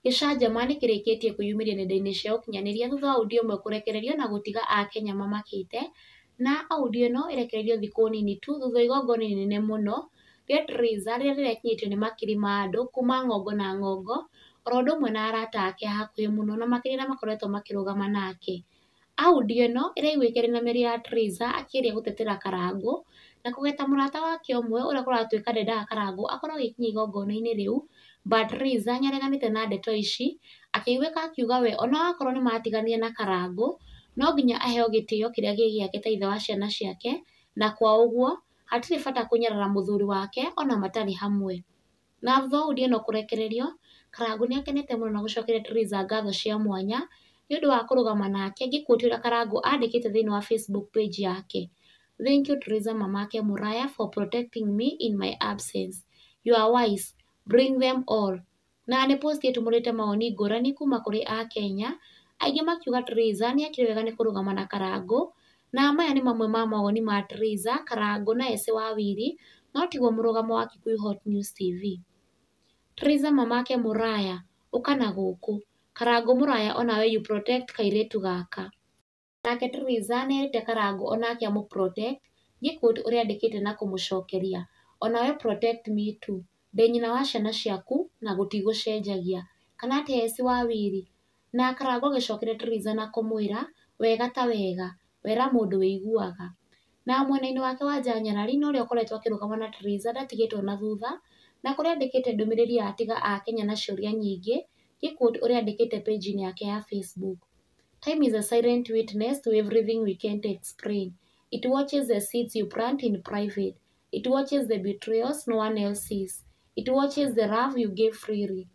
Gĩcanjama nĩkĩrĩkĩtie kwĩyumĩria nenda-inĩ cia ũkinyanĩria thutha wa audio ĩmwe kũrekererio na gũtiga Akenya mamakĩte, na audio ĩno ĩrekereirio thikũ nini tu thutha wa igongona inene mũno rĩa Theresa rĩrĩa rĩrekinyĩtio nĩ makiri ma andũ kuma ng'ongo na ng'ongo, oro ũndũ ũmwe na arata ake a hakuhĩ mũno na makĩria arĩa makoretwo makĩrũgama nake. Audio ĩno ĩraiguĩka ĩrĩ na mĩario ya Teresa akĩgeria gũtetera Karangũ na kũgeta mũrata wake ũmwe ũrĩa kũratuĩka ndendaga Karangũ akorwo agĩkinya igongona-inĩ rĩu. But Teresa nĩ areganĩte na ndeto ici akĩiguĩka akiuga we ona akorwo nĩ matiganire na Karangũ no nginya aheo gĩtĩo kĩrĩa gĩ gĩake ta ithe wa ciana ciake na kwa ũguo hatirĩ bata kũnyarara mũthuri wake ona matarĩ hamwe. Na Thouli ena kũrekererio, Karangũ nĩ akenete mũno na gũcokeria Theresa ngatho cia mwanya nĩ ũndũ wa kũrũgama nake, ngĩkuotia ũrĩa Karangũ andĩkĩte thĩinĩ wa Facebook page yake, Thank you Theresa Mamake Mũraya for protecting me in my absence. You are wise. Bring them all. Na nĩ post ĩtumũrĩte mawoni ngũrani kuuma kũrĩ Akenya, aingĩ makiuga Theresa nĩ ekire wega nĩ kũrũgama na Karangũ Na maya nĩ mamwe ma mawoni ma Teresa, Karangũ na Esĩ wa Wili, no tiguo mũrũgamo wa Kikuyu Hot News TV. Teresa mamake mũraya, ũka na gũkũ. Karangũ mũraya o nawe you protect kairĩtu gaka. Nake Teresa nĩ erĩte Karangũ o nake amũ protect, nĩ quote ũrĩa andĩkĩte na kũmũcokeria, O nawe protect me too. Ndĩ nyina wa ciana ciaku na gũtigũcenjagia. Kana atĩa Esĩ wa Wili? Nake Karangũ agĩcokeria Teresa na kũmwĩra, Wega ta wega, wera mũndũ wĩiguaga. Na mwena-inĩ wake wa nja nyarari na ũrĩa ũkoretwo akĩrũgama na Teresa ndatigĩtwo na thutha, na kũrĩa andĩkĩte ndũmĩrĩri ya Tiga Akenya na Ciũria Nyingĩ, gĩkundi ũrĩa andĩkĩte page-inĩ yake ya Facebook. Time is a silent witness to everything we can't explain. It watches the seeds you plant in private. It watches the betrayals no one else sees. It watches the love you gave freely.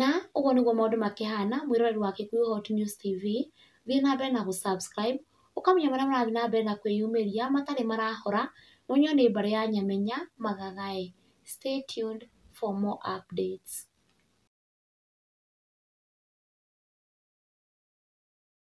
Na ũguo nĩguo maũndũ makĩhana mwĩroreri wa Kikuyu Hot News TV, thiĩ na mbere na gũ subscribe, ũkamenya marĩa marathiĩ na mbere na kwĩyumĩria matarĩ marahora, na ũnyiũ nĩ mbarĩ ya Nyamenya Magagaĩ. Stay tuned for more updates.